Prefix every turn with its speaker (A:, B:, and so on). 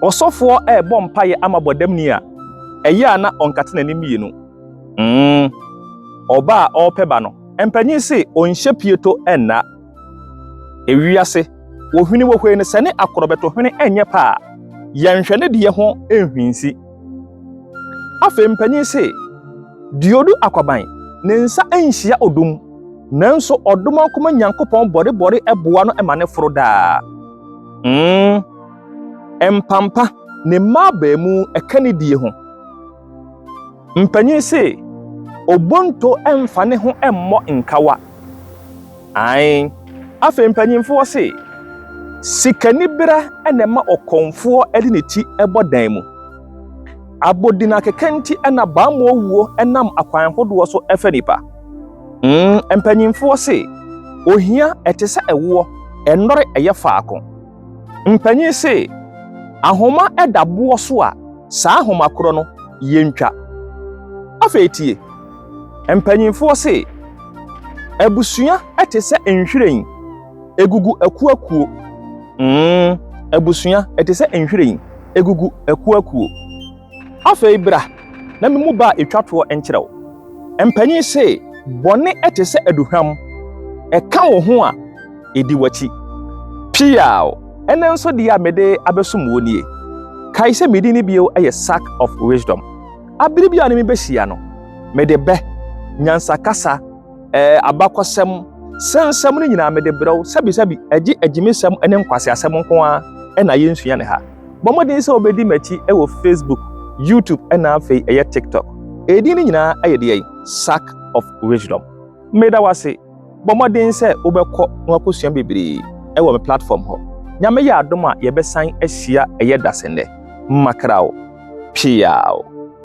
A: Ɔsɔfoɔ rebɔ mpaeɛ ama bɔdamni a, ɛyɛ a na ɔnkate n'anim mmienu? Mm. Ɔbaa a ɔrepɛ ba no, mpanyin se ɔnhyɛ pieto nna. Ewiase, wɔhwini wɔ hwei no sɛ ne akorɔbɛto hwene ɛnyɛ pɛ a, yɛnhwɛ ne deɛ ho nhwinsi. Afei mpanyin se, deɛ ɔdu akwaban, ne nsa nhyia odum, nanso ɔdom akoma Nyankopɔn bɔrebɔre boa no ma no foro daa. Mm. Mpampa, ne mma abaamuu ɛka ne die ho. Mpanyin se, Obonto mfa ne ho mmɔ nkawa. Ae. Afei mpanyinfoɔ se, Sikanibera na ɛma ɔkɔmfoɔ de ne ti bɔ dan mu. Abodinakeka nti na bammɔwuo nam akwan hodoɔ so fa nnipa. Mm, mpanyinfoɔ se, Ohia ɛte sɛ ɛwoɔ, ɛnnɔre ɛyɛ faako. Mpanyin se, Ahoma da boɔ so a, saa ahoma korɔ no, yɛntwa. Afei tie. Mpanyinfoɔ se, Abusua te sɛ nhwiren, ɛgugu akuakuo. Mm, abusua te sɛ nhwiren, ɛgugu akuakuo. Afei bra na memu ba a etwa toɔ nkyerɛ wo. Mpanyin se, Bɔne te sɛ aduhwam, ɛka wo ho a, edi w'akyi. Piaw! Ɛnnɛ nso deɛ a mede abɛsom wo nie. Kae sɛ me din no bio yɛ Sack of Wisdom. Abere biara a ne me bɛhyia no, mede bɛ, nyansakasa, ɛɛ, abakɔsɛm, sɛ nsɛm no nyinaa mede brɛ wo. Sɛbisɛbi, ɛgye agyimisɛm ne nkwaseasɛm nko ara na yɛnsua no ha. Bɔ mmɔden sɛ wobɛdi m'akyi wɔ Facebook, YouTube ɛna afei ɛyɛ TikTok. Ɛdin no nyinaa ɛyɛ deɛ yi, Sack of Wisdom. Meda wo ase. Bɔ mmɔden sɛ wobɛkɔ na wakɔsua bebree ɛwɔ me platform hɔ. Nyame yɛ adom a yɛbɛsan ahyia ɛyɛ dasennɛ. Makraw! Piaw!